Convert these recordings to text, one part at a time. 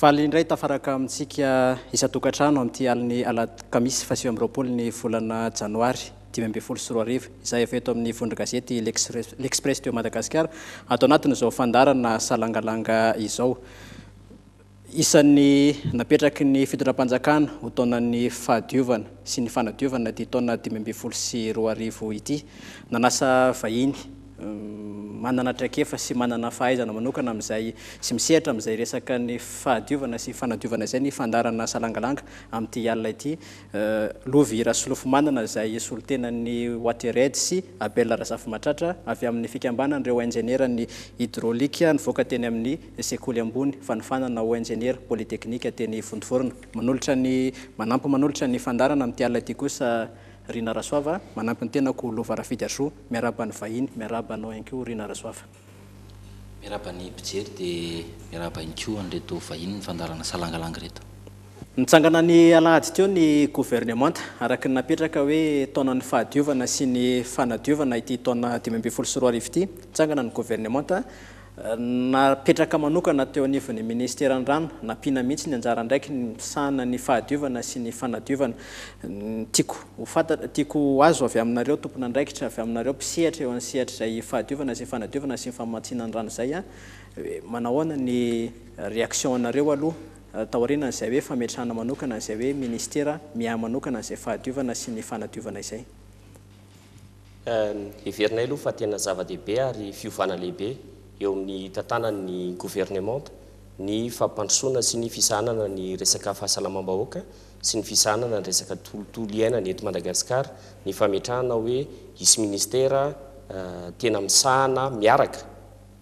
Faly indray tafaraka amintsika isan-tokantrano amin'ity alin'ny alakamisy fahasivy amby roapolo ny volana janoary dimy ambin'ny folo sy roa arivo izay avy eto amin'ny vondron-gazety L'Express de Madagascar ato anatin'izao fandaharana salangalanga izao isan'ny napetraky ny fitondram-panjakana ho taonan'ny fahadiovana sy ny fanadiovana ity taona dimy ambin'ny folo sy roa arivo ity. Nanasa vahiny. manana traikefa sy manana fahaizana manokana amin'izay sy misehatra amin'izay resaka ny fahadiovana sy fanadiovana izay ny fandaharana Salangalanga amin'ity alina ity, Lovy Rasolofomanana izay solontenan'ny Watered sy Abel Razafimatratra avy amin'ny fikambanan'ireo injenieran'ny Hydraulique nivoaka teny amin'ny sekoly ambony fanofanana ho injeniera polytechnique teny Vontovorona. Manolotra ny manampy manolotra ny fandaharana amin'ity alina ity kosa Rinarasoava manampy ny tenako Lovarafidy Achoux. Miarahaba ny vahiny, miarahaba anao ihany koa Rina Rasoafa. Miarahaba ny mpijery dia miarahaba ihany koa an'ireto vahiny ny fandaharana Salangalang ireto. Nitsangana ny alahady teo ny governemanta araka ny napetraka hoe taonan'ny fahadiovana sy ny fanadiovana ity taona dimy ambin'ny folo sy roa arivo ity. Nitsangana ny governemanta Napetraka manokana teo anivon'ny Ministeran'ny Rano, nampiana mihitsy ny anjara andraikiny misahana ny fahadiovana sy ny fanadiovana. Tiako ho fantatra, tiako ho azo avy aminareo tompon'andraikitra, avy aminareo mpisehatra eo amin'ny sehatr'izay fahadiovana izay fanadiovana sy ny famatsiana ny rano izay an, hoe manahoana ny réaction anareo aloha taorianan'izay hoe fametrahana manokana an'izay hoe Ministera miahy manokana an'izay fahadiovana sy ny fanadiovana izay. Heverinay aloha fa tena zava-dehibe ary fiovana lehibe eo amin'ny tantanany ny governemanta ny fampandrosoana sy ny fisahanana ny resaka fahasalamam-bahoaka sy ny fisahanana ny resaka tolotolo iainana eto Madagasikara ny fametrahana hoe hisy ministera tena misahana miaraka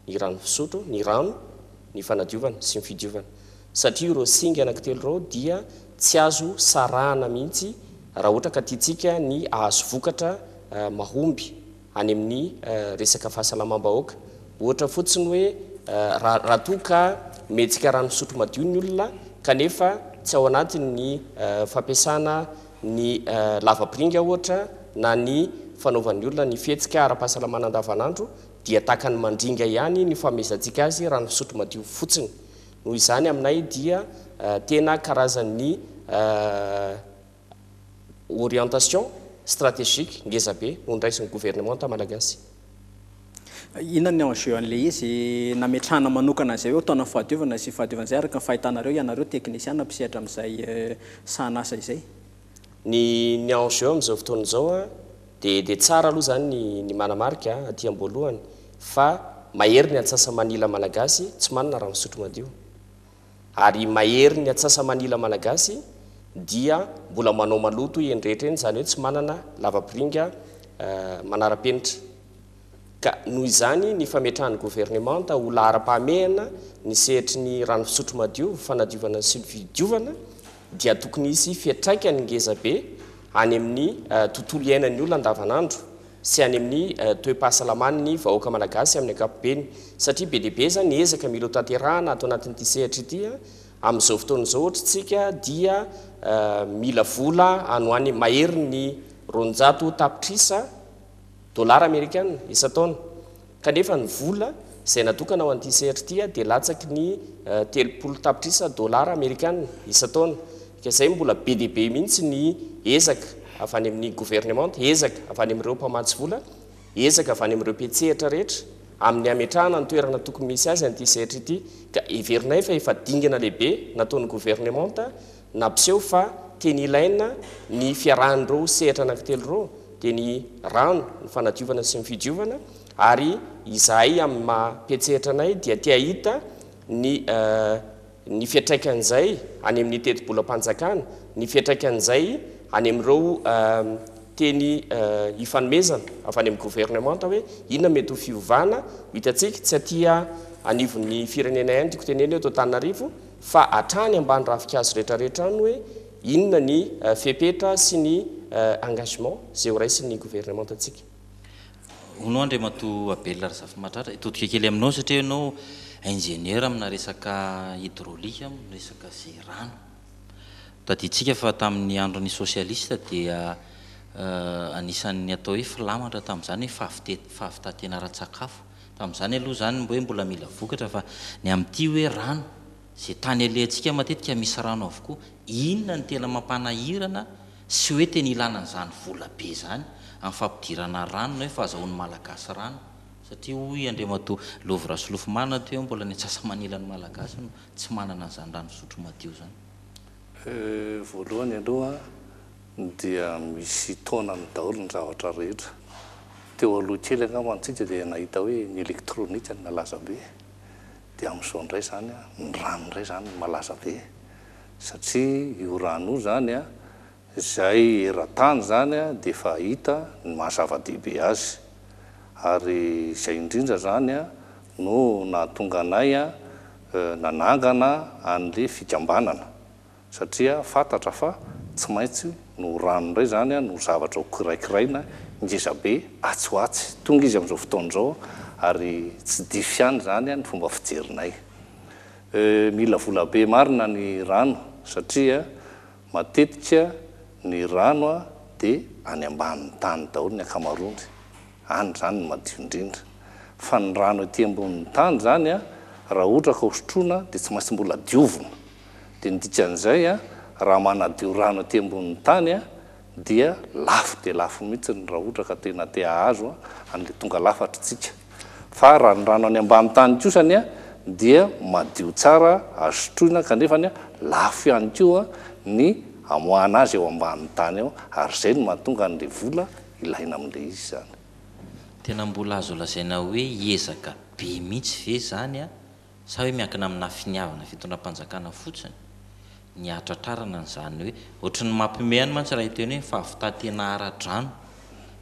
ny rano fisotro, ny rano, ny fanadiovana sy ny fidiovana satria ireo singa anankitelo ireo dia tsy azo sarahana mihitsy raha ohatra ka tiantsika ny hahazo vokatra mahomby any amin'ny resaka fahasalamam-bahoaka. Ohatra fotsiny hoe raha raha toa ka mihetsika rano fisotro madio ny olona kanefa tsy ao anatiny ny fampiasana ny lavapiringa ohatra na ny fanaovan'ny olona ny fihetsika ara-pahasalamana andavanandro dia tahaka ny mandringa ihany ny fanomezantsika azy rano fisotro madio fotsiny, noho izany aminay dia tena karazan'ny orientation stratégique ngeza be hondraisin'ny governemanta malagasy. Inona ny enjeu an'ilay izy nametrahana manokana an'izay hoe taona fahadiovana sy fahadiovana izay araka ny fahitanareo ianareo teknisiana mpisehatra amin'izay sahanasa izay? Ny ny enjeu amin'izao fotoana izao a, Dia dia tsara aloha izany ny ny manamarika aty amboalohany fa mahery ny antsasa-manila Malagasy tsy manana rano fisotro madio. Ary mahery ny antsasa-manila Malagasy dia mbola manao maloto eny rehetra eny, izany hoe tsy manana lavapiringa manara-penitra. ka noho izany ny fametrahan'ny governemanta ho laharam-pahamehana ny sehatry ny rano fisotro madio, fanadiovana ny solofidiovana dia tokony hisy fiantraikany ngeza be any amin'ny tontolo iainan'ny olona andavanandro sy any amin'ny toe-pahasalaman'ny vahoaka malagasy amin'ny ankapobeny satria be dia be izany ny ezaka mila hotanterahana ato anatin'ity sehatra ity amin'izao fotoana izao ohatra isika dia mila vola any ho any maherin'ny roanjato tapitrisa Dolara amerikana isan-taona. Kanefa ny vola izay natokana ho an'ity sehatra ity dia latsaky ny telopolo tapitrisa dolara amerikana isan-taona. Ka izay mbola be dia be mihitsy ny ezaka avy any amin'ny governemanta, ezaka avy any amin'ireo mpamatsy vola, ezaka avy any amin'ireo mpiantsehatra rehetra amin'ny hametrahana ny toerana tokony misy azy an'ity sehatra ity. Ka heverinay fa efa dingana lehibe nataon'ny governemanta Nampiseho fa teny ilaina ny fiarahan'ireo sehatra anankitelo ireo dia ny rano, ny fanadiovana sy ny fidiovana ary izahay amin'ny maha mpiantsehatra anay dia te hahita ny ny fiantraikan'izay any amin'ny tetibolam-panjakana, ny fiantraikan'izay any amin'ireo teny ifanomezana avy any amin'ny governemanta hoe inona mety ho fiovana ho hitantsika, tsy aty anivon'ny firenena ihany tiako tenenina eto Antananarivo, fa hatrany ambany ravinkazo retraretra any hoe inona ny fepetra sy ny engagement izay ho raisin'ny gouvernementantsika. Hono Andriamatoa Abel Razafimahatratra, hitodika kely aminao satria ianao ingénieur amina resaka hydraulique, amina resaka ze rano. Tadidintsika fa tamin'ny andron'ny socialiste dia anisan'ny atao hoe filamatra tamin'izany hoe fahavitana ara-tsakafo. Tamin'izany aloha izany hoe mbola mila vokatra fa ny amin'ity hoe rano, izay tany alehantsika matetika misy rano avokoa, inona no tena mampanahirana sy hoe tena ilana an'izany vola be izany amin'ny fampidirana rano na hoe fahazahoan'ny Malagasy rano? Satria hoy Andriamatoa Lovy Rasolofomanana aty hoe mbola ny antsasa-manilan'ny Malagasy no tsy manana an'izany rano fisotro madio izany. Voalohany aloha. dia misy taonany daholo ny zavatra rehetra, teo aloha kely angamba antsika dia nahita hoe ny elektronika no nalaza be, dia amin'izao indray izany ny rano indray izany no malaza be, satria io rano io izany izay eran-tany izany dia efa hita ny maha zava-dehibe azy, ary izay indrindra izany no nahatonga anay nanangana an'ilay fikambanana. satria fantatra fa tsy maintsy no ho rano indray izany no zavatra ho kiraikiraina ngeza be atsy ho atsy, tonga izy amin'izao fotoana izao ary tsy diso ihany izany ny fomba fijerinay. Euh mila vola be marina ny rano satria matetika ny rano dia any ambanin'ny tany daholo ny ankamaroany, any izany no madio indrindra, fa ny rano ety ambonin'ny tany izany raha ohatra ka hosotroina dia tsy maintsy mbola diovina, Dia ny dikan'izay, raha manadio rano aty ambonin'ny tany dia lafo dia lafo mihitsy raha ohatra ka tena te hahazo an'ilay tonga lafatra isika. Fa raha ny rano any ambany tany kosa anie dia madio tsara, azo sotroina, kanefa lafo ihany koa ny amoahana azy eo ambanin'ny tany eo, ary izay no mahatonga an'ilay vola ilaina amin'ilay izy izany. Tena mbola azo lazaina hoe ezaka be mihitsy ve izany? Sa hoe miankina aminà finiavana fitondram-panjakana fotsiny ny hahatratrarana an'izany hoe, ohatry ny mampihomehy ihany mantsy raha hiteny hoe fahavità tena ara-drano,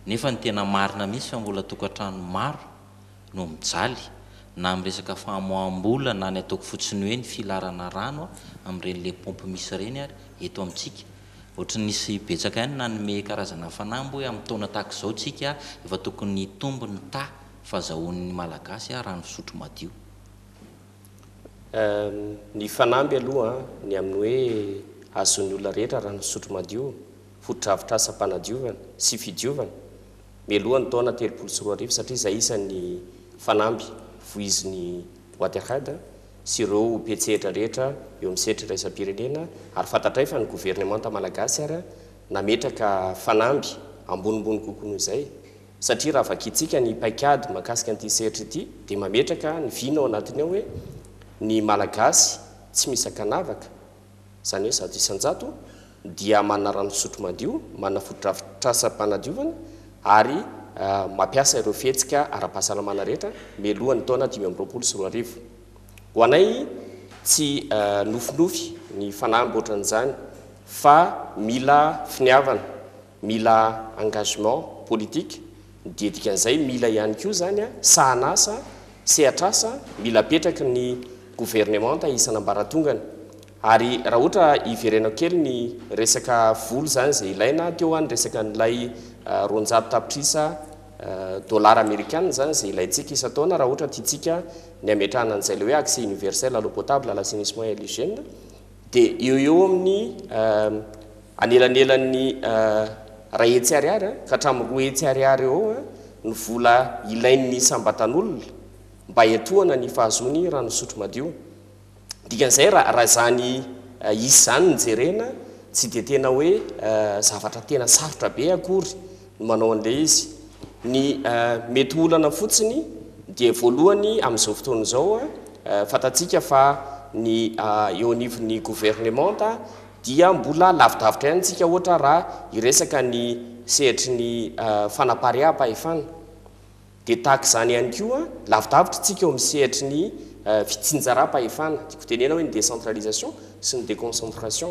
nefa ny tena marina mihitsy fa mbola tokantrano maro no mijaly na amin'ny resaka famoaham-bola na ny ataoko fotsiny hoe ny filarana rano amin'ireny lait pompe misy ireny ary eto amintsika ohatry ny nisy betsaka ihany nanome karazana fanahy mbo hoe amin'ny taona tahaka izao tsika efa tokony hitombo ny taha fa zahonin'ny Malagasy ary rano fisotro madio. Ny fanamby aloha ny amin'ny hoe azon'ny olona rehetra rano fisotro madio ho drafitrasam-panadiovana sy fidiovana mialoha ny taona telopolo sy roa arivo satria izay isan'ny fanamby voizin'ny boite à rade sy ireo mpiantsehatra rehetra eo amin'ny sehatry iraisam-pirenena ary fantatray fa ny governemanta Malagasy ary nametraka fanamby ambonimbony kokoa noho izay Satria raha vakintsika ny paikady mahakasika an'ity sehatry ity dia mametraka ny vina ao anatiny ao hoe ny Malagasy tsy misakanavaka, izany hoe zato isan-jato, dia manana rano fisotro madio, manana fotodrafitrasam-panadiovana ary mampiasa ireo fihetsika ara-pahasalamana rehetra mialohan'ny taona dimy amby roapolo sy roa arivo. Ho anay tsy nofinofy ny fanahy amboatran'izany fa mila finiavana. Mila engagement politique ny didikan'izay, mila ihany koa izany sahan'asa, sehatr'asa mila apetraky ny governemanta isan'ambaratongany. Ary raha ohatra hiverenako kely ny resaka vola izany izay ilaina, teo aho ny resaka an'ilay roanjato tapitrisa dollars amerikana izany izay ilaintsika isan-taona raha ohatra tiantsika ny hametrahana an'izay ilay hoe accès universel à l'eau potable, à l'assainissement et à l'hygiène, Dia eo eo amin'ny anelanelan'ny iray hetsy ariary ka hatramin'ny roa hetsy ariary eo eo ny vola ilain'ny isam-batan'olona mba hiantohana ny fahazoany rano fisotro madio. Dikan'izay raha izany isa izany no jerena tsy dia tena hoe zavatra tena sarotra be akory no manao an'ilay izy. Ny mety olana fotsiny dia voalohany amin'izao fotoana izao fantatsika fa ny eo anivon'ny governemanta dia mbola lavidavitra ihany isika ohatra raha hiresaka ny sehatry ny fanapariaham-pahefana dia tahaka izany ihany koa lavidavitra isika eo amin'ny sehatry ny fitsinjaram-pahefana, tiako tenena hoe ny décentralisation sy ny déconcentration.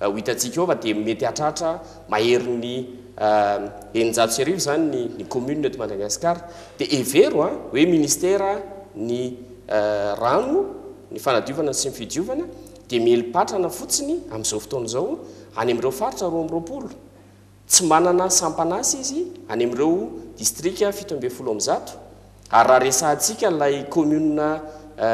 Ho hitantsika eo fa dia mety hahatratra maherin'ny eninjato sy arivo izany ny commune eto Madagasikara. Dia hevero hoe ministera ny rano, ny fanadiovana sy ny fidiovana dia mieli-patrana fotsiny amin'izao fotoana izao any amin'ireo faritra roa amby roapolo. Tsy manana sampan'asa izy any amin'ireo distrika fito ambin'ny folo amby zato, ary raha resahantsika ilay kaominina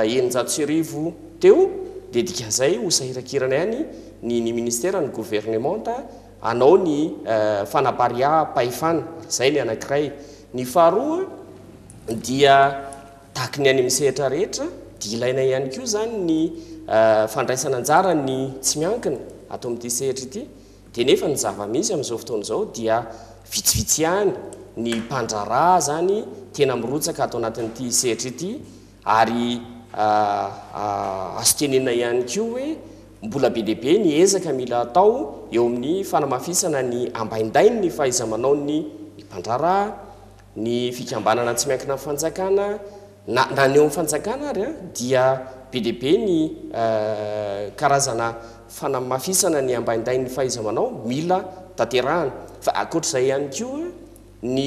eninjato sy arivo teo dia dikan'izay ho sahiran-kirana ihany ny ny ministera, ny governemanta hanao ny fanapariaham-pahefana. Izay ny anankiray. Ny faharoa dia tahaky ny any amin'ny sehatra rehetra dia ilaina ihany koa izany ny fandraisana anjara ny tsy miankina ato amin'ity sehatra ity. Dia nefa ny zava-misy amin'izao fotoana izao dia vitsivitsy ihany ny mpandraharaha izany tena mirotsaka ato anatin'ity sehatra ity ary azo tenenina ihany koa hoe mbola be dia be ny ezaka mila atao eo amin'ny fanamafisana ny ambaindain'ny fahaiza-manaon'ny mpandraharaha Ny fikambanana tsy miankina amin'ny fanjakana, na na ny eo amin'ny fanjakana ary an, dia be dia be ny karazana fanamafisana ny ambaindain'ny fahaiza-manao mila tanterahana. Fa ankoatra izay ihany koa, ny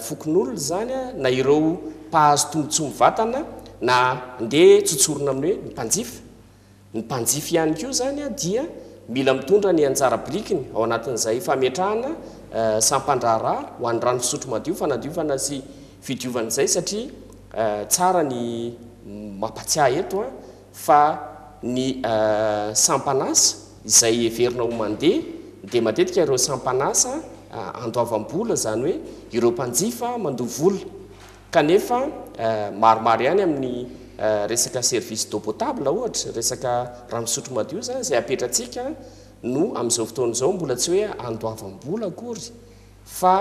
fokonolona izany an, na ireo mpahazo tombotsoa mivantana na ndeha tsotsorina amin'ny hoe ny mpanjifa, Ny mpanjifa ihany koa izany dia mila mitondra ny anjara birikiny ao anatin'izay fametrahana sampan-draharaha ho an'ny rano fisotro madio, fanadiovana sy fidiovana izay satria tsara ny mampatsiahy eto fa ny sampan'asa izay heverina ho mandeha dia matetika ireo sampan'asa andoavam-bola izany hoe ireo mpanjifa mandoa vola Kanefa maromaro ihany amin'ny resaka service d'eau potable ohatra, resaka rano fisotro madio izany izay apetratsika no amin'izao fotoana izao mbola tsy hoe andoavam-bola akory fa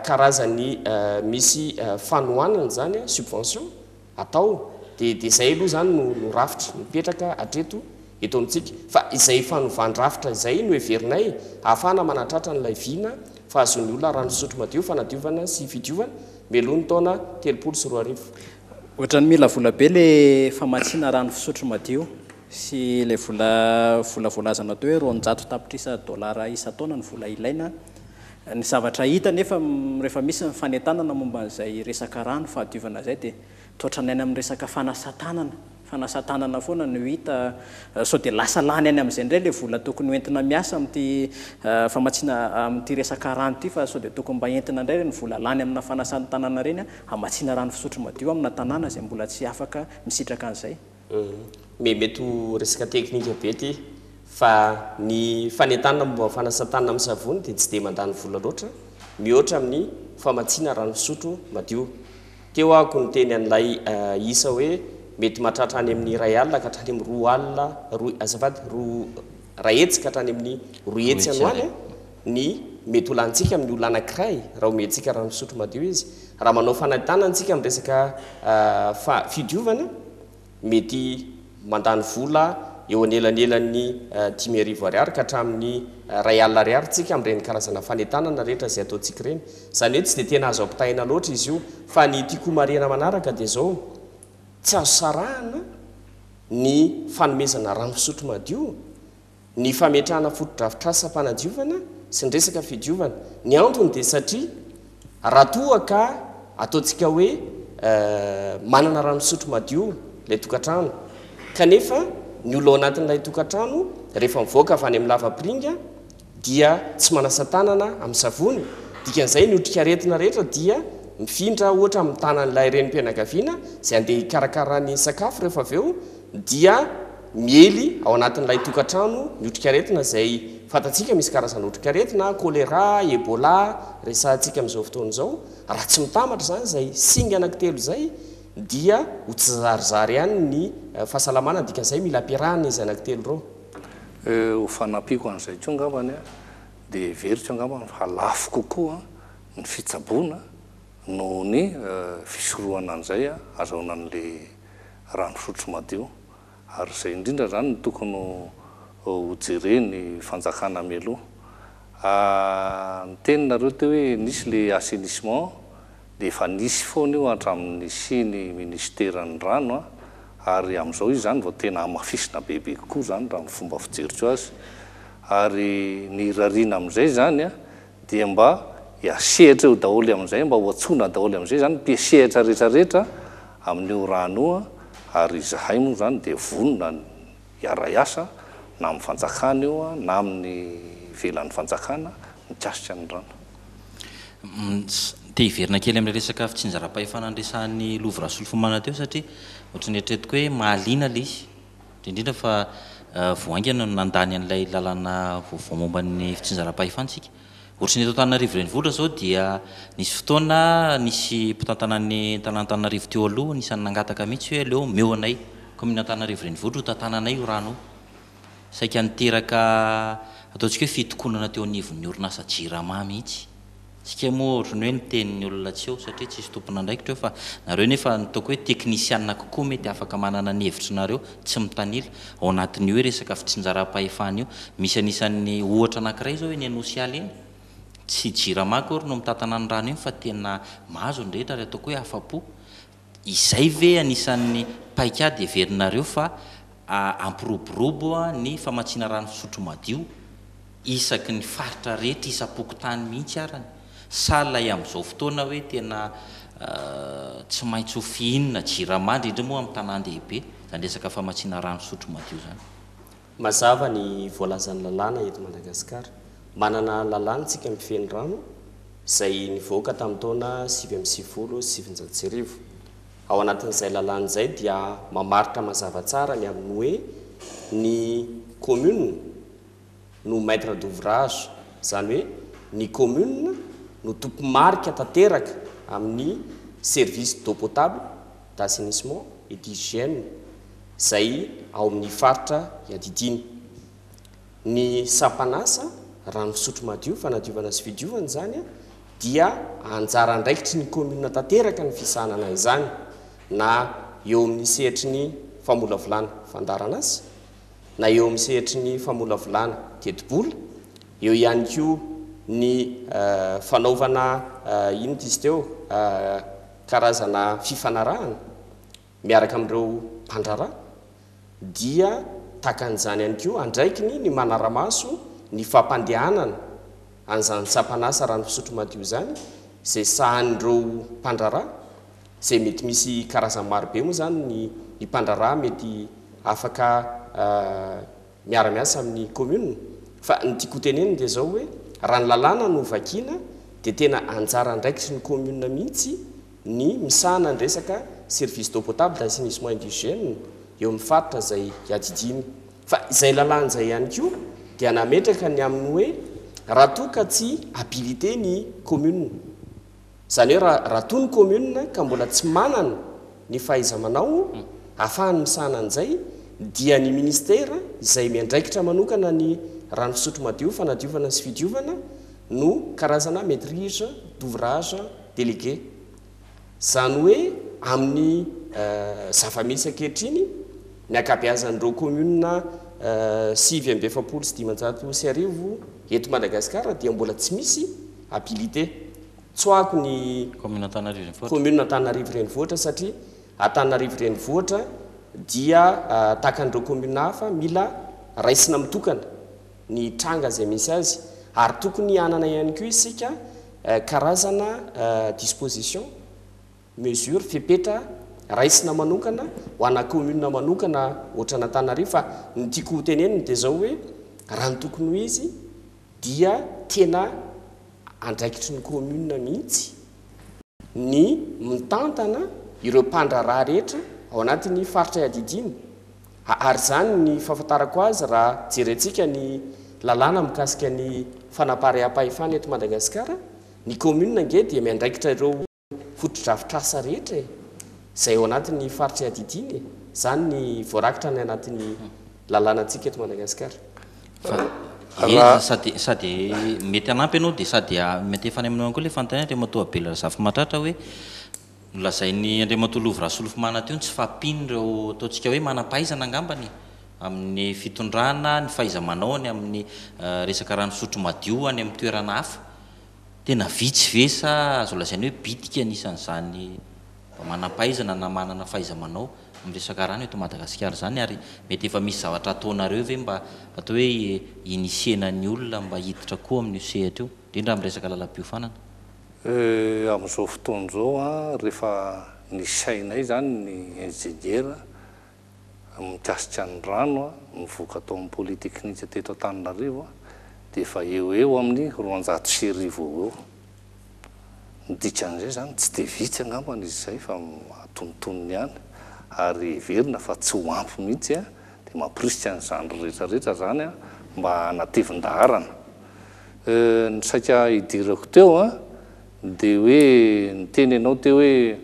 karazan'ny misy fanohanana izany, subvention, atao dia dia izay aloha izany no rafitra mipetraka hatreto eto amintsika, fa izay fanovan-drafitra izay no heverinay hahafahana manatratra an'ilay vina fahazoan'ny olona raha misotro madio, fanadiovana sy fidiovana, mialoha ny taona telopolo sy roa arivo. Ohatran'ny mila vola be ilay famatsiana rano fisotro madio sy ilay vola vola voalaza natao hoe roanjato tapitrisa dolara isan-taona ny vola ilaina. Ny zavatra hita anefa rehefa misy ny fanentanana momba an'izay resaka rano fahadiovana izay dia Toetra ny any amin'ny resaka fanasan-tanana, fanasan-tanana foana no hita, sao dia lasa lany any amin'izay indray ilay vola tokony ho entina miasa amin'ity famatsiana, amin'ity resaka rano ity fa sao dia tokony mba entina indray ireny vola lany amina fanasan-tanana ireny hamatsiana rano fisotro madio amina tanàna izay mbola tsy afaka misitraka an'izay. Hum, mety ho resaka teknika be ity fa ny fanentanana momba ny fanasan-tanana amin'ny savony dia tsy dia mandany vola loatra mihoatra amin'ny famatsiana rano fisotro madio. Teo aho ko niteny an'ilay isa hoe mety mahatratra any amin'ny iray alina ka hatrany amin'ny roa alina, roa, azafady, roa, iray hetsy ka hatrany amin'ny roa hetsy any ho any an! ny mety ho lanintsika amin'ny olona anankiray raha omentsika rano fisotro madio izy. Raha manao fanentanana isika amin'ny resaka fa- fidiovana, mety mandany vola eo anelanelan'ny dimy arivo ariary ka hatramin'ny iray alina ariary isika amin'ireny karazana fanentanana rehetra izay ataontsika ireny. Izany hoe tsy dia tena azo ampitahaina loatra izy io. Fa ny tiako homarihana manaraka dia izao, tsy azo sarahana ny fanomezana rano fisotro madio, ny fametrahana fotodrafitrasam-panadiovana sy ny resaka fidiovana. Ny antony dia satria raha toa ka ataontsika hoe manana rano fisotro madio ilay tokantrano, kanefa ny olona ao anatin'ilay tokantrano rehefa mivoaka avy any amin'ny lavapiringa dia tsy manasa tanana amin'ny savony, dikan'izay ny otrikaretina rehetra dia mifindra ohatra amin'ny tanan'ilay renim-pianakaviana izay handeha hikarakara ny sakafo rehefa avy eo, dia miely ao anatin'ilay tokantrano ny otrikaretina izay fantatsika misy karazana otrikaretina, choléra, ebola, resahantsika amin'izao fotoana izao, raha tsy mitambatra izany izay singa anankitelo izay dia ho tsizarizary ihany ny fahasalamana, dikan'izay mila ampiarahana izy anankitelo ireo. Ho fanampiako an'izay koa angambany dia heveriko angambany fa lafo kokoa ny fitsaboana noho ny fisorohana an'izay azahoana an'ilay rano fisotro madio, ary izay indrindra izany no tokony hojeren'ny fanjakana mialoha. Niteny nareo teo hoe nisy ilay assainissement, dia efa nisy foana io hatramin'ny nisian'ny minisiteran'ny rano, ary amin'izao izy izany vao tena hamafisina bebe kokoa izany raha ny fomba fijeriko azy, ary ny irariana amin'izay izany, dia mba hiasehatra eo daholo amin'izay, mba ho antsoina daholo amin'izay izany mpiasehatra rehetrarehetra amin'io rano io an, ary izahay moa izany dia vonona ny hiara-hiasa na amin'ny fanjakana io an, na amin'ny ivelan'ny fanjakana mikasika ny rano. Te hiverina kely amin'ilay resaka fitsinjaram-pahefana niresahan'i Lova Rasolofomanana teo satria ohatran'ny eritreretiko hoe mahaliana ilay izy, Indrindra fa vao haingana no nandany an'ilay lalana vaovao momba ny fitsinjaram-pahefana isika. Ohatry ny eto Antananarivo renivohitra izao dia nisy fotoana nisy mpitantana ny tanàn'Antananarivo teo aloha anisan'ny nangataka mihitsy hoe aleo omeo anay kaominina Antananarivo renivohitra ho tantananay io rano io. Saika niteraka ataontsika hoe fitokonana teo anivon'ny orinasa Jirama mihitsy. Tsika moa otrny hoe niteny ny olona tsy eo satria tsisy tompon'andraikitra eo fa nareo nefa nitaoko hoe teknisianina kokoa mety afaka manana ny hevitry nareo tsy mitanila ao anatin'io hoe resaka fitsinjaram-pahefana io misy anisan'ny ohatra anakiray zao eny Anosy Ala eny tsy jirama akory no mitatana ny rano iny fa tena mahazo ny rehetra ary ataoko hoe afa-po Izay ve anisan'ny paikady heverinareo fa hampiroborobo ny famatsiana rano fisotro madio isaky ny faritra rehetra isam-pokontany mihitsy arany? Sa ilay amin'izao fotoana hoe tena tsy maintsy ho fihinina jirama, indrindra moa amin'ny tanàn-dehibe, izany resaka famatsiana rano fisotro madio izany? Mazava ny voalazan'ny lalàna eto Madagasikara. Manana lalàna tsika mifehy ny rano izay nivoaka tamin'ny taona sivy amby sivifolo sy sivinjato sy arivo. Ao anatin'izay lalàna izay dia mamaritra mazava tsara ny amin'ny hoe ny commune no maitre d'ouvrage, izany hoe ny commune no tompo-marika tanteraka amin'ny service d'eau potable, d'assainissement et d'hygiène izay ao amin'ny faritra iadidiany. Ny sampan'asa, rano fisotro madio, fanadiovana sy fidiovana izany dia anjara andraikitry ny commune tanteraka ny fisahanana izany na eo amin'ny sehatry ny famolavolana fandaharan'asa na eo amin'ny sehatry ny famolavolana tetibola, eo ihany koa ny fanaovana inona izy teo? Karazana fifanarahana miaraka amin'ireo mpandraharaha dia takan'izany ihany koa andraikiny ny manara-maso ny fampandehanana an'izany sampan'asa rano fisotro madio izany izay sahanin'ireo mpandraharaha izay mety misy karazany marobe moa izany ny mpandraharaha mety afaka miara-miasa amin'ny commune fa ny tiako hotenenina dia izao hoe raha ny lalàna no vakiana dia tena anjara andraikitry ny commune mihitsy ny misahana ny resaka service d'eau potable d'assainissement et d'hygiène eo amin'ny faritra izay iadidiany fa izay lalàna izay ihany koa dia nametraka ny amin'ny hoe raha toa ka tsy habilité ny commune Izany hoe raha raha toa ny commune ka mbola tsy manana ny fahaiza-manao ahafahany misahana an'izay dia ny ministera izay miandraikitra manokana ny rano fisotro madio, fanadiovana sy fidiovana no karazana maitrise d'ouvrage délégué. Izany hoe amin'ny zava-misy ankehitriny ny ankabeazan'ireo commune sivy amby efapolo sy dimanjato sy arivo eto Madagasikara dia mbola tsy misy habilité tsoahiko ny Commune Antananarivo Renivohitra. Commune Antananarivo Renivohitra satria Antananarivo Renivohitra dia tahaka an'ireo commune hafa mila raisina mitokana ny tranga izay misy azy ary tokony hanana ihany koa isika karazana disposition, mesure, fepetra raisina manokana ho ana commune manokana ohatran'Antananarivo fa ny tiako ho tenenina dia izao hoe raha ny tokony ho izy dia tena andraikitry ny commune mihitsy ny mitantana ireo mpandraharaha rehetra ao anatin'ny faritra iadidiany ary izany ny fahafantarako azy raha jerentsika ny lalàna mikasika ny fanaparehampahefana eto Madagasikara, ny commune ange dia miandraikitra ireo. fotodrafitrasa rehetra e! izay ao anatin'ny faritry adidiana e! izany ny voarakitra any anatin'ny lalànantsika eto Madagasikara. Raha sady sady mety hanampy ianao dia sady mety efa any aminao ihany koa ilay fanontaniana Andriamatoa Abel Razafimahatratra hoe nolazain'i Andriamatoa Lovy Rasolofimana teo ny tsy fahampian'ireo ataontsika hoe manam-pahaizana angambany e! amin'ny fitondrana, ny fahaiza-manaony amin'ny resaka rano fisotro madio any amin'ny toerana hafa. Tena vitsy ve sa azo lazaina hoe bitika anisan'izany mba manam-pahaizana na manana fahaiza-manao amin'ny resaka rano eto Madagasikara izany ary mety efa misy zavatra ataonareo ve mba atao hoe hi-initier-na ny olona mba hiditra koa amin'io sehatra io, indrindra amin'ny resaka lalam-piofanana? Amin'izao fotoana izao an, rehefa nisainay izany ny injeniera mikasika ny rano mivoaka tao amin'ny polytechnique teto Antananarivo dia efa eo ho eo amin'ny roanjato sy arivo eo ho eo. Ny dikan'izay izany, tsy dia vitsy angamba izy izay fa antonontonony ihany ary heverina fa tsy ho ampy mihitsy dia mamporisika an'izany rehetra rehetra izany mba hanatevin-daharana. Ny saika hidirako teo dia hoe niteny ianao teo hoe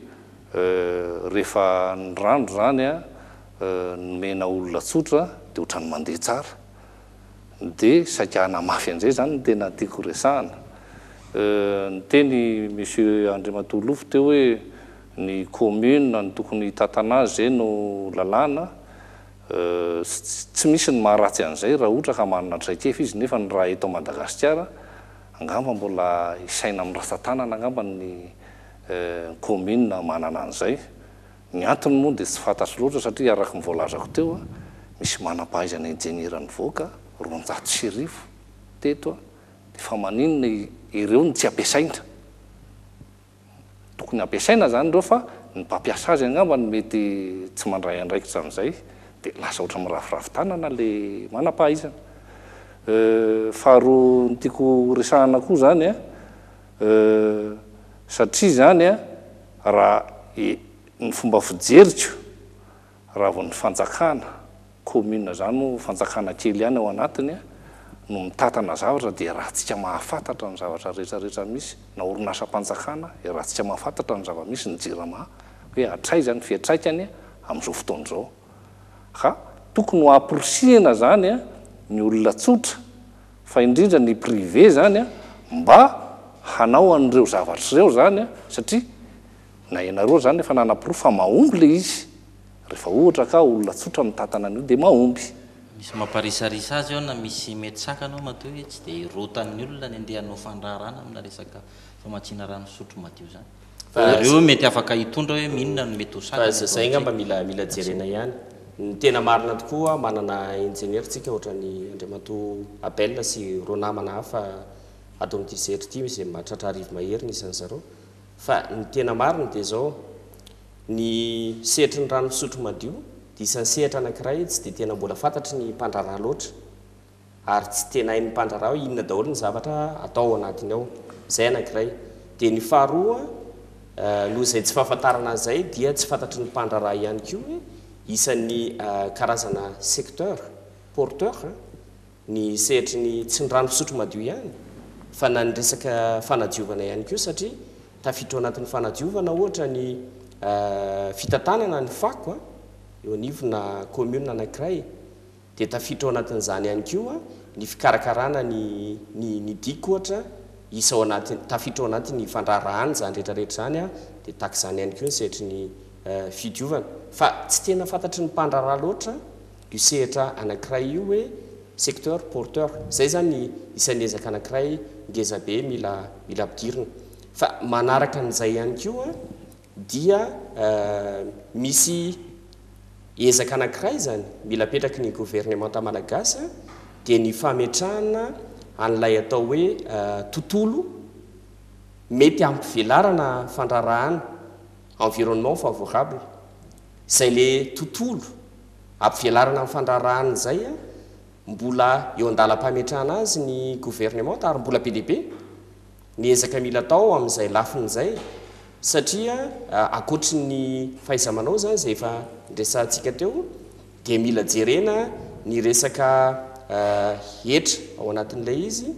Euh rehefa ny rano izany an nomena olona tsotra dia ohatran'ny mandeha tsara dia saika hanamafy an'izay izany no tena tiako resahana. Euh niteny Monsieur Andriamatoa Lofo teo hoe ny commune no tokony hitantana azy izay no lalàna euh tsy misy ny maharatsy an'izay raha ohatra ka manana traikefa izy nefa ny raha eto Madagasikara angamba mbola hisaina amin'ny ratsan-tanana angamba ny ny kaominina manana an'izay. Ny antony moa dia tsy fantatro loatra satria araka ny voalazako teo, misy manam-pahaizana injeniera nivoaka roanjato sy arivo teto dia fa maninona ireo no tsy ampiasaina? Tokony hampiasaina izany ireo fa ny mpampiasa azy angamba no mety tsy mandray andraikitra an'izay dia lasa ohatran'ny miraviravy tanana ilay manam-pahaizana. Faharoa ny tiako horesahana koa izany, Euh, satria zany an, raha e, ny fomba fijeriko, raha vao ny fanjakana, commune zany moa fanjakana kely ihany ao anatiny an, no mitatana zavatra dia iarahantsika mahafantatra ny zavatra rehetra rehetra misy, na orinasam-panjakana, iarahantsika mahafantatra ny zava-misy, ny jirama, hoe hatraiza ny fiatraikany amin'izao fotoana izao. Ka tokony ho amporisihina zany an, ny olona tsotra. fa indrindra ny privé zany a, mba hanao an'ireo zavatra ireo zany a, satria na ianareo zany efa nanaporofo fa mahomby le izy, rehefa ohatra ka olona tsotra mitantana an'io dia mahomby. Misy mamparisarisa azy ao na misy mety sakana ao matoa hoe tsy dia hirotan'ny olona ny andeha hanao fandraharahana amina resaka famatsiana rano fisotro madio izany. Fa ireo mety afaka hitondra hoe minona no mety ho sakana eto amintsika. Fa zay ngamba mila mila jerena ihany. Ny tena marina tokoa manana ingenieur tsika ohatrany Andriamatoa Abel sy roa namana hafa ato amin'ity sehatra ity izay mahatratra arivo mahery ny isan-dry zareo. Fa ny tena marina dia izao, ny sehatry ny rano fisotro madio dia isan'ny sehatra anankiray tsy dia tena mbola fantatry ny mpandraharaha loatra. ary tsy tena hain'ny mpandraharaha hoe inona daholo ny zavatra atao ao anatiny ao. Izay anankiray. Dia ny faharoa, noho izay tsy fahafantarana an'izay dia tsy fantatry ny mpandraharaha ihany koa hoe isan'ny karazana secteur porteur ny sehatry ny tsy ny rano fisotro madio ihany fa na ny resaka fanadiovana ihany koa satria tafiditra ao anatin'ny fanadiovana ohatra ny fitantanana ny fako eo anivona commune anankiray. Dia tafiditra ao anatin'izany ihany koa ny fikarakarana ny ny ny dico ohatra, isa ao anatin'ny, tafiditra ao anatin'ny fandraharahana izany rehetra rehetra izany an, dia tahaka izany ihany koa ny sehatry ny fidiovana. Fa tsy tena fantatry ny mpandraharaha loatra io sehatra anankiray io hoe secteur porteur. Izay izany ny isan'ny ezaka anankiray ngezabe mila mila ampidirina. Fa manaraka an'izay ihany koa Dia misy ezaka anankiray izany mila apetraky ny governemanta malagasy dia ny fametrahana an'ilay atao hoe tontolo mety hampivelarana fandraharahana, environnement favorable, izay ilay tontolo hampivelarana ny fandraharahana izay mbola eo an-dalam-pametrahana azy ny governemanta ary mbola be dia be ny ezaka mila atao amin'izay lafiny izay satria ankoatry ny fahaiza-manao izany izay efa niresahantsika teo dia mila jerena ny resaka hetra ao anatin'ilay izy,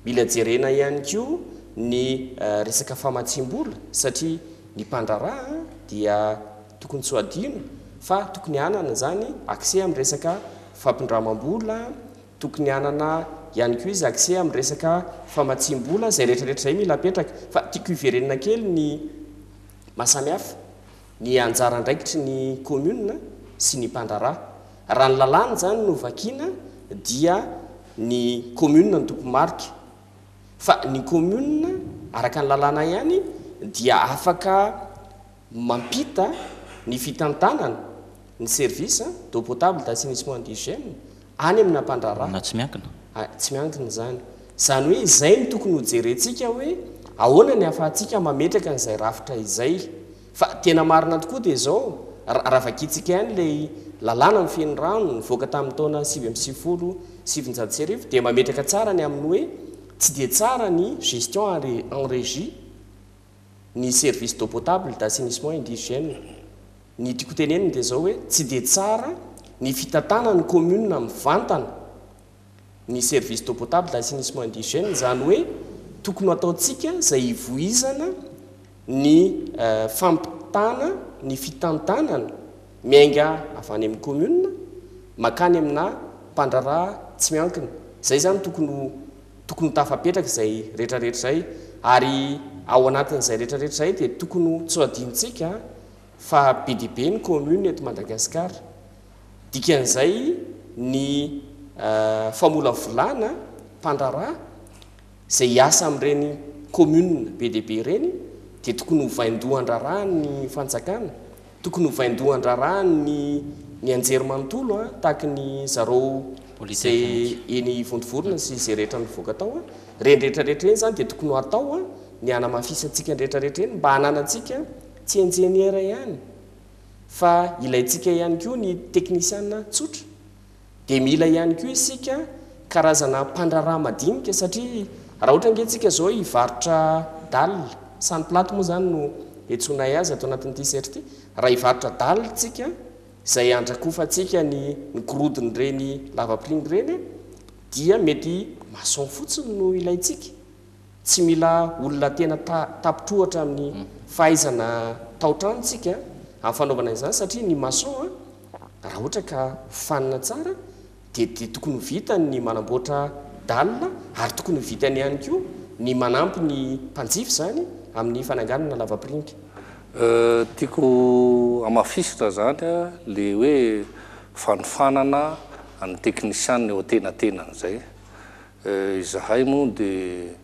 mila jerena ihany koa ny resaka famatsiam-bola satria ny mpandraharaha dia tokony tsy ho adino fa tokony hanana izany accès amin'ny resaka fampindramam-bola Tokony hanana ihany koa izy accès amin'ny resaka famatsiam-bola, izay rehetrarehetra izay mila apetraka. Fa tiako hiverenana kely ny mahasamihafa ny anjara andraikitry ny commune sy ny mpandraharaha. Raha ny lalàna izany no vakiana dia ny commune no tompo marika. Fa ny commune araka ny lalàna ihany dia afaka. mampita ny fitantanana ny service d'eau potable d'assainissement d'hygiène any amina mpandraharaha na tsy miankina. Tsy miankina izany. Izany hoe izay no tokony ho jerentsika hoe ahoana ny ahafahantsika mametraka an'izay rafitra izay. Fa tena marina tokoa dia izao, raha vakintsika ihany ilay lalàna mifehy ny rano nivoaka tamin'ny taona sivy amby sivifolo sy sivinjato sy arivo dia mametraka tsara ny amin'ny hoe tsy dia tsara ny gestion en régie. ny service d'eau potable d'assainissement et d'hygiène. Ny tiako hotenenina dia izao hoe tsy dia tsara ny fitantanan'ny commune mivantana ny service d'eau potable d'assainissement et d'hygiène, izany hoe tokony ho ataontsika izay hivoizana ny fampitana ny fitantanana miainga avy any amin'ny commune mankany amina mpandraharaha tsy miankina. Izay izany tokony ho tokony ho tafapetraka izay rehetra rehetra izay ary ao anatin'izay rehetra rehetra izay dia tokony ho tsy ho adinontsika fa be dia be ny commune eto Madagascar dikan'izay ny famolavolana mpandraharaha izay hiasa amin'ireny commune be dia be ireny dia tokony ho vaindohan-draharahan'ny fanjakana Tokony ho vaindohan-draharaha ny ny anjery manontolo a, tahaky ny zarao ze eny Vontovorona sy ze rehetra nivoaka tao a, reny rehetra rehetra reny zany de tokony ho atao a, ny hanamafisantsika ny rehetra rehetra eny mba hananantsika tsy enjeniera ihany fa ilaintsika ihany koa ny teknisiana tsotra dia mila ihany koa isika karazana mpandraharaha madinika satria raha ohatra ange tsika zao hivarotra dalle, sany platy moa zany no iantsoanay azy ato anatin'ny T-shirt ity, raha hivarotra dalle tsika izay handrakofantsika ny ny gorodon'ireny lavapiringa ireny dia mety maçon fotsiny no ilaintsika Tsy mila olona tena tapitr'ohatra amin'ny fahaizana tao-trano isika amin'ny fanaovana izany satria ny maçon raha ohatra ka hofanina tsara dia dia tokony ho vitany ny manamboatra dalina ary tokony ho vitany ihany koa ny manampy ny mpanjifa izany amin'ny fananganana lavapiringa. Tiako hamafisitra izany ilay hoe fanofanana ny teknisianina eo an-tenatenany izay. Izahay moa dia